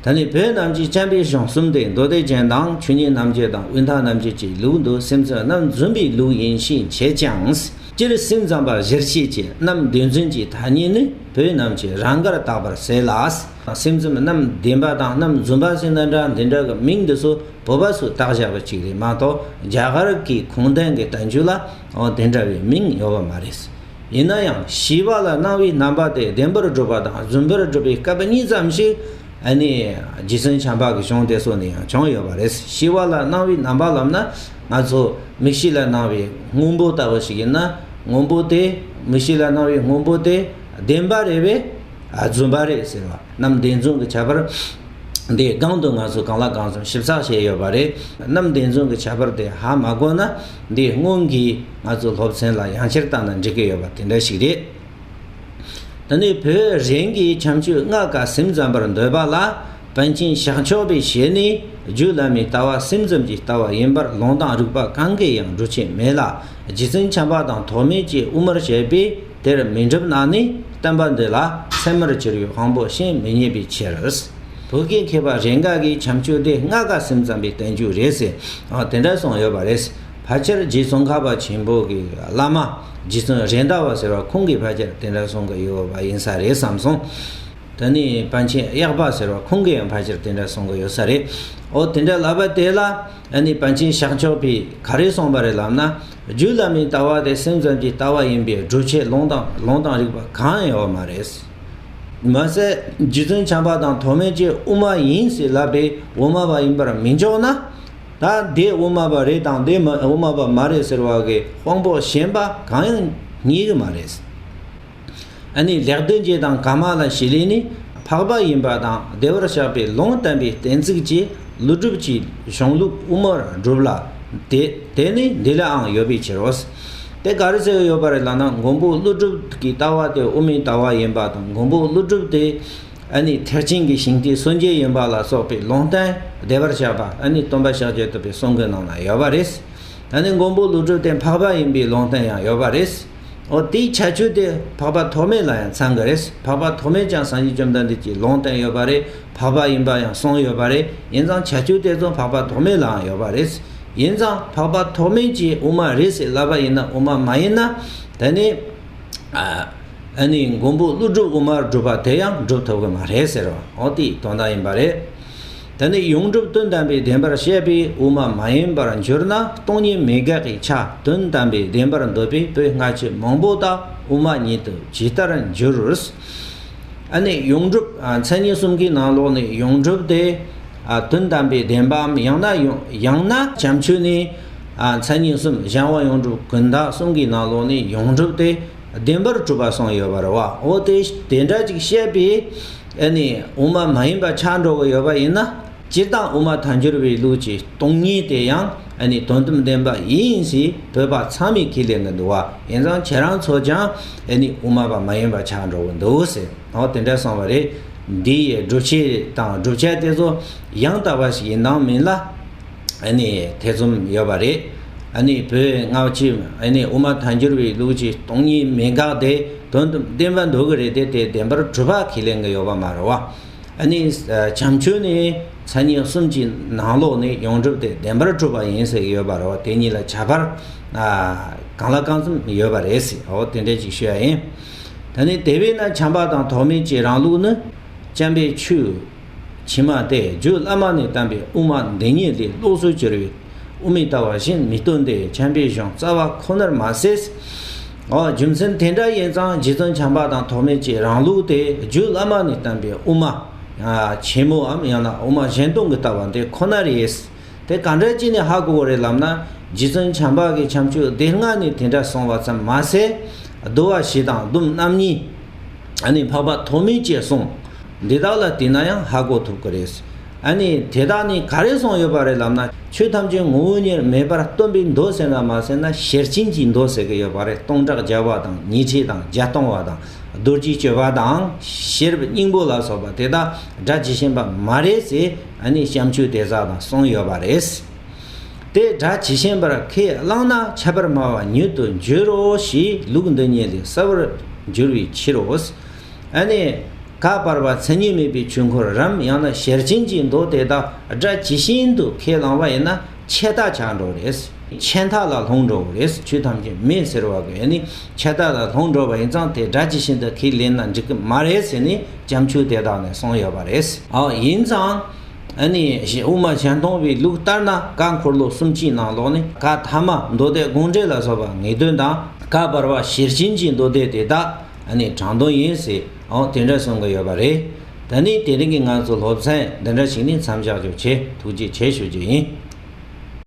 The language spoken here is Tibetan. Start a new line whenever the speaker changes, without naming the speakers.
ད་ནི་བོད་རྣམས་ཀྱི་བྱམས་པའི་གཞུང་གསུམ་སྟེ་མདོ་སྡེ་ཅན་དང་ཆོས་ཉིད་རྣམ་རྒྱལ་དང་དབུས་མཐའ་རྣམ་རྒྱལ་གྱི་ལུགས་འདི་སེམས་ཅན་རྣམས་བརྫུན་པའི་ལུགས་ཡིན་ཞེས་འཆད་ཅིང། སྤྱིར་སེམས་ཙམ་པ་གཞིར་བྱས་ཀྱི་རྣམ་བདེན་རྫུན་གྱི་ཐ་སྙད་ནི་བོད་རྣམས་ཀྱིས་རང་གར་བཏགས་པར་ཟད་ལ། སེམས་ཙམ་རྣམ་བདེན་པ་དང་རྣམ་བརྫུན་པ་ཟེར་ན་འདྲ་འདི་འདྲ་གི་མིང་འདི་སོ་བོད་པ་སུས་བཏགས་བཞག་པ་ཅིག་རེད་མ་གཏོགས་རྒྱ་གར་གྱི་གུང་ཐན་གྱི་བརྡ་འགྱུར་ལ་འོ་དེ་འདྲ་བའི་མིང་ཡོད་པ་མ་རེད། ཡིན་ན་ཡང་བྱིས་པ་ལ་སྣང་བའི་རྣམ་པ་དེ་བདེན་པར་སྒྲུབ་པ་དང་རྫུན་པར་སྒྲུབ་པའི་སྐབས་གཉིས་ཙམ་ཞིག་ནི་རྗེ་བཙུན་བྱམས་པ་གྱི་གཞུང་དེ་སོགས་ནས་ཡང་བྱུང་ཡོད་པ་རེད། བྱིས་པ་ལ་སྣང་བའི་རྣམ་པ་ལབ་ན་ང་ཚོ་མིག་ཤེས་ལ་སྣང་བའི་དངོས་པོ་ལྟ་བུ་ཞིག་ཡིན་ན་དངོས་པོ་དེ་མིག་ཤེས་ལ་སྣང་བའི་དངོས་པོ་དེ་བདེན་པ་རེད་བས་རྫུན་པ་རེད་ཟེར་བ་རྣམས་བདེན་རྫུན་གྱི་ཁྱད་པར་དེའི་སྒང་དུ་ང་ཚོས་གང་ལ་གང་འཚམས་ཞིབ་ཚགས་བྱས་ཡོད་པ་རེད། རྣམས་བདེན་རྫུན་གྱི་ཁྱད་པར་དེ་ཧ་མ་གོ་ན། འདི་སྔོན་གྱི་ང་ཚོའི་སློབ་ཚན་ལ་ཡང་བསྐྱར་བཏང་ན་འགྲིག་གི་ཡོད་པ་དེ་འདྲ་ཞིག་རེད། ད་ནི་བོད་རིགས་ཀྱི་བྱམས་ཆོས་ལྔ་ག་སེམས་ཙམ་པར་འདོད་པ་ལ་བན་ཆེན་ཞང་ཆོག་པའི་ཞལ་ནས་རྒྱུད་བླ་མའི་ལྟ་བ་སེམས་ཙམ་གྱི་ལྟ་བ་ཡིན་པར་ལུང་དང་རིགས་པ་གང་གིས་ཡང་འགྲུབ་ཆེད་མེད་ལ་རྗེ་བཙུན་བྱམས་པ་དང་ཐོགས་མེད་ཀྱིས་དབུ་མར་བྱས་པའི་དེར་མི་འགྲུབ་ན་ནི་སྟོན་པ་འདི་ལ་མཚན་མར་གྱུར་ཡུལ་དབང་པོ་ཤིང་མི་རྙེད་པའི་ཕྱིར། བོད་སྐད་མཁས་པ་རེ་འགའ་གིས་བྱམས་ཆོས་སྡེ་ལྔ་དགའ་སེམས་ཙམ་པའི་བསྟན་བཅོས་རེད་ཟེར་དེ་འདྲ་གསུངས་ཡོད་པ་རེད། ཕལ་ཆེར་རྗེ་ཙོང་ཁ་པ་ཆེན་པོ་གི་བླ་མ་རྗེ་བཙུན་རེད་འདའ་བ་ཟེར་བ་ཁོང་གིས་ཕལ་ཆེར་དེ་འདྲ་གསུང་གི་ཡོད་པ་ཡིན་ས་རེད་བསམ་སོང། དེ་ནས་པཎ་ཆེན་གཡག་པ་ཟེར་བ་ཁོང་གིས་ཡང་ཕལ་ཆེར་དེ་འདྲ་གསུང་གི་ཡོད་ས་རེད། འོ་དེ་འདྲ་ལབ་པ་དེ་ལ་ཨ་ནི་པཎ་ཆེན་ཤག་མཆོག་གིས་ག་རེ་གསུངས་པ་རེད་ལབ་ན། རྒྱུད་བླ་མའི་ལྟ་བ་དེ་སེམས་ཙམ་གྱི་ལྟ་བ་ཡིན་པས་བསྒྲུབ་བྱའི་ལུང་དང་ལུང་དང་རིགས་པ་གང་ཡང་མ་རེད། མ་ཟད་རྗེ་བཙུན་བྱམས་པ་དང་ཐོགས་མེད་ཀྱིས་དབུ་མ་ཡིན་ཞེས་ལབ་པས་དབུ་མ་པ་ཡིན་པར་མི་འཇོག་ན། ད་འདི་དབུ་མ་པ་རེད་དང་འདི་དབུ་མ་པ་མ་རེད་ཟེར་བ་གི་དཔང་པོ་གཞན་པ་གང་ཡང་རྙེད་གི་མ་རེད། ཨ་ནི་ལེགས་ལྡན་འབྱེད་དང་ག་མ་ལ་ཞེས་ལས་ནི་འཕགས་པ་ཡིན་པ་དང་བདེ་བར་གཤེགས་པའི་ལུང་བསྟན་པའི་གཏན་ཚིགས་ཀྱི་ཀླུ་སྒྲུབ་ཀྱི་གཞུང་ལུགས་དབུ་མར་གྲུབ་ལ། དེ་ནི་འདི་ལའང་ཡོད་པའི་ཕྱིར་རོ། དེ་ག་རེ་ཟེར་ཡོད་པ་རེད་ལགས་ན་མགོན་པོ་ཀླུ་སྒྲུབ་ཀྱི་ལྟ་བ་དེ་དབུ་མའི་ལྟ་བ་ཡིན་པ་དང་མགོན་པོ་ཀླུ་སྒྲུབ་དེ་ཨ་ནི་ཐེག་ཆེན་གྱི་ཞིང་སྟེ་སངས་རྒྱས་ཡིན་པ་ལ་སོགས་པའི་ལུང་བསྟན་བདེ་བར་གཤེགས་པ་ཨ་ནི་སྟོན་པ་ཕྱག་རྒྱ་ཐུབ་པའི་གསུང་གི་ནང་ན་ཡོད་པ་རེད། ད་ནི་མགོན་པོ་ཀླུ་སྒྲུབ་དེ་འཕགས་པ་ཡིན་པའི་ལུང་བསྟན་ཡང་ཡོད་པ་རེད། འོ་དེའི་བྱ་སྤྱོད་དེ་འཕགས་པ་ཐོགས་མེད་ལ་ཡང་ཚང་གི་རེད། འཕགས་པ་ཐོགས་མེད་ཀྱང་སངས་རྒྱས་བཅོམ་ལྡན་འདས་ཀྱིས་ལུང་བསྟན་ཡོད་པ་རེད། འཕགས་པ་ཡིན་པ་ཡང་གསུངས་ཡོད་པ་རེད། ཡིན་ཙང་བྱ་སྤྱོད་དེ་ཚོ་འཕགས་པ་ཐོགས་མེད་ལའང་ཡོད་པ་རེད། ཡིན་ཙང་འཕགས་པ་ཐོགས་མེད་ཀྱིས་དབུ་མ་རེད་ཟེར་ལབ་པ་ཡིན་ན་དབུ་མ་མ་ཡིན་ན། དེ་ནི། ཨ་ནི་མགོན་པོ་ཀླུ་སྒྲུབ་དབུ་མར་སྒྲུབ་པ་དེ་ཡང་སྒྲུབ་ཐུབ་ཀྱི་མ་རེད་ཟེར་བ་འོ་དེའི་དོན་དག་ཡིན་པ་རེད། དེ་ནི་ཡོངས་གྲུབ་དོན་དམ་པའི་བདེན་པར་བཤད་པའི་དབུ་མ་མ་ཡིན་པར་འགྱུར་ན་སྟོང་ཉིད་མི་དགག་གི་ཆ་དོན་དམ་པའི་བདེན་པར་འདོད་པའི་པོད་སྔ་ཕྱི་མང་པོ་དག་དབུ་མ་ཉིད་དུ་ཇི་ལྟར་འགྱུར། ཨ་ནི་ཡོངས་གྲུབ་མཚན་ཉིད་གསུམ་གྱི་ནང་ལོགས་ནས་ཡོངས་གྲུབ་དེ་དོན་དམ་པའི་བདེན་པའམ་ཡང་ན་ཡང་ན་བྱམས་ཆོས་ནི་མཚན་ཉིད་གསུམ་གཞན་དབང་ཡོངས་གྲུབ་ཀུན་བདག་གསུམ་གྱི་ནང་ལོགས་ནས་ཡོངས་གྲུབ་དེ་བདེན་པར་གྲུབ་པ་གསུངས་ཡོད་པར་བའོ། དེ་འདྲ་ཅིག་བཤད་པས། ཨེ་ནས་དབུ་མ་མ་ཡིན་པ་ཆགས་འགྲོ་གི་ཡོད་པ་ཡིན་ན་སྤྱིར་བཏང་དབུ་མ་མཐའ་འགྱུར་བའི་ལུགས་ཀྱི་སྟོང་ཉིད་དེ་ཡང་ཨེ་ནས་དོན་དམ་བདེན་པ་ཡིན་ཞེས་བོད་པ་ཚང་མས་ཁས་ལེན་གི་འདུག་བ་ཡིན་ཙང་ཁྱེད་རང་ཚོ་ཀྱང་ཨེ་ནས་དབུ་མ་པ་མ་ཡིན་པ་ཆགས་འགྲོ་གི་འདུག་ཟེར་ནའོ་དེ་འདྲ་སོང་བ་རེད། འདི་ཡི་སྒྲུབ་བྱེད་དང་བསྒྲུབ་བྱ་དེ་ཚོ་ཡང་དག་པ་ཞིག་ཡིན་དང་མིན་ལ། ཐེ་ཚོམ་ཡོད་པ་རེད། བོད་སྔ་ཕྱི་དབུ་མ་ཐལ་འགྱུར་བའི་ལུགས་ཀྱི་སྟོང་ཉིད་མི་འགག་དེ་དོན་དུ་བདེན་པ་འདུག་གི་རེད་དེ་དེ་བདེན་པར་གྲུབ་པ་ཁས་ལེན་གྱི་ཡོད་པ་མ་རེད། བྱམས་ཆོས་ནི་མཚན་ཉིད་གསུམ་གྱི་ནང་ལོགས་ནས་ཡོངས་གྲུབ་དེ་བདེན་པར་གྲུབ་པ་ཡིན་ཟེར་གྱི་ཡོད་པ་རེད། དེ་གཉིས་ལ་ཁྱད་པར་གང་ལ་གང་འཚམ་ཡོད་པ་རེད། དེ་འདྲའི་ཅིག་ཤོས་ཡིན། དེ་བས་ན་བྱམས་པ་དང་ཐོགས་མེད་ཀྱི་རང་ལུགས་ནི། བྱམས་པའི་ཆོས། ཕྱི་མ་སྟེ་རྒྱུད་བླ་མ་ནས་བསྟན་པའི་དབུ་མ་འདི་ཉིད་ལས་ལོགས་སུ་གྱུར་པའི་དབུ་མའི་ལྟ་བ་བཞིན་མི་སྟོན་ཏེ་འཁྱམས་པའི་གཞུང་རྩ་བ་ཁོ་ནར་མ་ཟད། འོ་རྒྱུ་མཚན་དེ་འདྲ་ཡིན་ཙང་རྗེ་བཙུན་བྱམས་པ་དང་ཐོགས་མེད་ཀྱི་རང་ལུགས་ཏེ་རྒྱུད་བླ་མ་ནས་བསྟན་པའི་དབུ་མ། ཆེན་མོའམ་ཡང་ན་དབུ་མ་གཞན་སྟོང་གི་ལྟ་བ་འདི་ཁོ་ནར་ཡེ། དེ་ག་འདྲ་གྱིས་ནི་ཧ་གོ་བོ་རེད་ལབ་ན་རྗེ་བཙུན་བྱམས་པ་གི་བྱམས་ཆོས་སྡེ་ལྔ་ནི་དེ་འདྲ་གསུངས་བ་ཙམ་མ་ཟད། བསྡུ་བ་བཞི་དང་སྡུམ་རྣམ་གཉིས། ནི་འཕགས་པ་ཐོགས་མེད་ཅེས་གསུངས། འདི་དག་ལ་བལྟས་ན་ཡང་ཧ་གོ་ཐུབ་ཀྱི་རེད། ནི་དེ་དག་ནི་ག་རེ་གསུངས་ཡོད་པ་རེད་ལབ་ན་ཆོས་ཐམས་ཅད་ངོ་བོ་ཉིད་མེད་པར་སྟོན་པའི་མདོ་ཟེར་ན་མ་ཟེར་ན་ཤེར་ཕྱིན་གྱི་མདོ་ཟེར་གྱི་ཡོད་པ་རེད་སྟོང་ཕྲག་བརྒྱ་པ་དང་ཉི་ཁྲི་དང་བརྒྱ་སྟོང་བ་དང་རྡོ་རྗེའི་སྤྱོད་པ་དང་ཤེར་སྙིང་པོ་ལ་སོགས་པ་དེ་དག་སྒྲ་ཇི་བཞིན་པ་མ་རེད་ཟེར། ཨ་ནི་བཤམ་ཆུ་དེ་ཟག་དང་སོང་ཡོད་པ་རེད། དེ་སྒྲ་ཇི་ཞན་པར་ཁས་བླངས་ན་ཁྱད་པར་སྨྲ་བ་ཉུལ་དུ་འགྱུར་རོ་ཞེས་ལུགས་འདི་ཉིད་ལས་གསལ་བར་འགྱུར་བའི་ཕྱིར་རོ། ཨ་ནི། ཁ་པར་བ་མཚན་ཉིད་མེད་པའི་ཆོས་འཁོར་རམ་ཡང་ན་ཞལ་ཆེམས་ཀྱི་མདོ་དེ་དག་སྒྲ་ཇི་ཞན་དུ་ཁས་བླངས་པ་ཡིན་ན་ཆད་ཐག་བཅག་འགྲོ་བ་རེད། ཆད་ཐག་ལ་ལྷུང་འགྲོ་བ་རེད་ཆུ་ཐམས་ཅད་མེད་ཟེར་བ་དགོས་ནི་ཆད་ཐག་ལ་ལྷུང་འགྲོ་བ་ཡིན་ཙང་དེ་སྒྲ་ཇི་བཞིན་དུ་ཁས་ལེན་ན་འགྲིག་གི་མ་རེད་ཟེར་ནས་བྱམས་ཆུང་དེ་དག་ནས་གསུངས་ཡོད་པ་རེད། ཡིན་ཙང། ཨ་ནི། དབུ་མ་གཞན་སྟོང་པའི་ལུགས་ལྟར་ན་བཀའ་འཁོར་ལོ་གསུམ་སྤྱིའི་ནང་ལོགས་ནས་བཀའ་ཐ་མ་མདོ་སྡེ་དགོངས་འགྲེལ་ལ་སོགས་པ་ངེས་དོན་དང་བཀའ་བར་བ་ཞེར་བྱིན་གྱི་མདོ་སྡེ་དེ་དག་ཨ་ནི་དྲང་དོན་ཡིན། དེ་འདྲ་གསུང་གི་ཡོད་པ་རེད། ད་ནི་དེ་རིང་གི་ང་ཚོ་སློབ་ཚན་འདི་འདྲ་ཞིག་ནས་མཚམས་བཞག་རྒྱུ་ཆེ་ཐུགས་རྗེ་ཆེ་ཞུ་རྒྱུ་ཡིན།